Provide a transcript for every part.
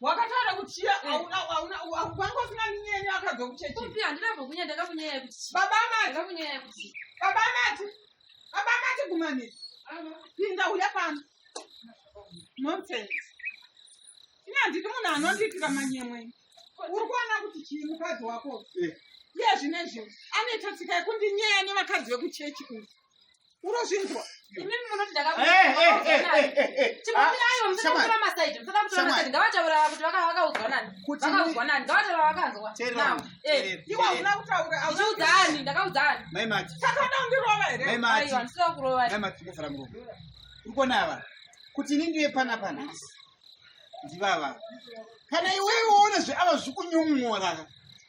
wakataura kuti chiya eh. auna auna wanga usina minyenya wakabva kuchechi kupi handina bva kunyanya ndakakunyaya kuti chi baba mati ndakakunyaya kuti baba mati baba mati gumani pinda uya pano nonsense ini handiti munhu anondiitira manyemwe uri kuona kuti chii mukadzi wako eh. iye zvine zvino anoita tsika yekundinyaya nevakadzi vekuchechi uyu unozvinzwa ukonava kuti ini ndive pana panhasi ndivava kana iwewe woona zveava zvikunyumworaka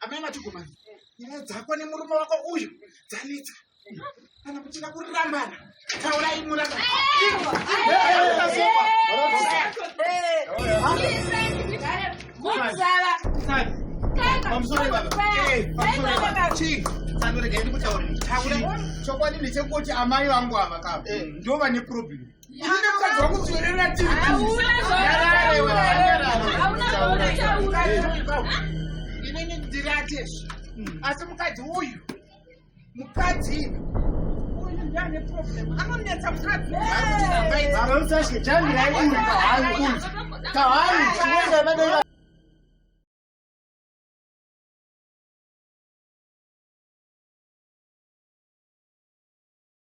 amai matikomani nyaya dzako nemurume wako uyu dzanetsa kana kuchida kurambana taurai murambana chokwadi ndechekuti amai vangu ava ka ndo vane problem inenge ndiratezvo asi mukadzi uyu mukadzi anonetsa